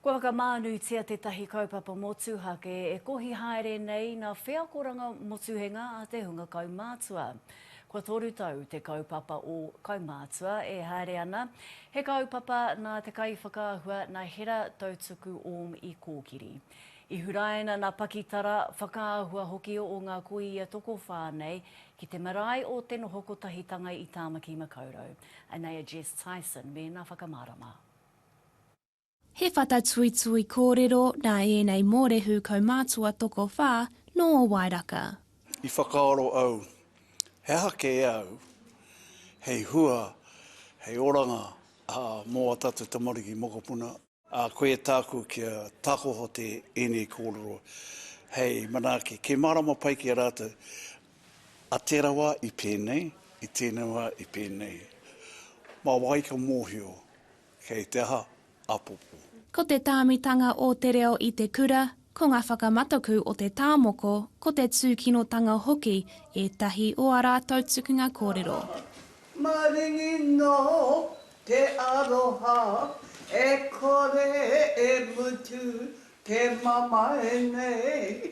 Kua whakamānutia tētahi kaupapa motuhake e kohi haere nei ngā wheakoranga motuhenga a te hunga kaumātua. Kua toru tau te kaupapa o Kaumātua e haere ana, he kaupapa nā te kaiwhakaahua nā Hera Tautuku Orm i kōkiri. I huraina nā pakitara, whakaahua hoki o ngā kōia tokowhā nei ki te marae o Te Noho Kotahitanga i Tāmaki Makaurau. Anei a Jess Tyson mēnā whakamārama. He whatatuitui kōrero nā ēnei mōrehu kaumātua tokowhā nō Wairaka. I whakaaro au, he aha kē au hei hua, hei oranga mō a tātou tamariki mokopuna? Ā, koia tāku kia takoho te ēnei kōrero hei manaaki, kei mārama pai ki a rātou, a tērā wā i pēnei, i tēnei wā i pēnei. Mā wai ka mōhio? Kei te aha? Apopo. Ko te tāmitanga o te reo i te kura, ko ngā whakamataku o te tāmoko, ko te tūkinotanga hoki ētahi o ā rātou tukunga kōrero. Maringi nō te aroha e kore e mutu te mamae nei.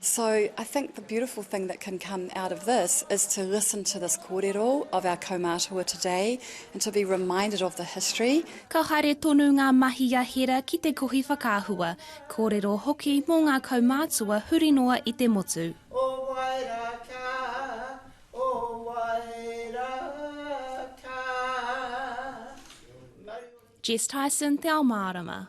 So I think the beautiful thing that can come out of this is to listen to this kōrero of our kaumātua today and to be reminded of the history. Ka haere tonu ngā mahi a Hera ki te kohi whakaahua, kōrero hoki mō ngā kaumātua huri noa i te motu. O wai ra ka, o wai ra ka, maru. Jess Tyson, Te Ao Mārama.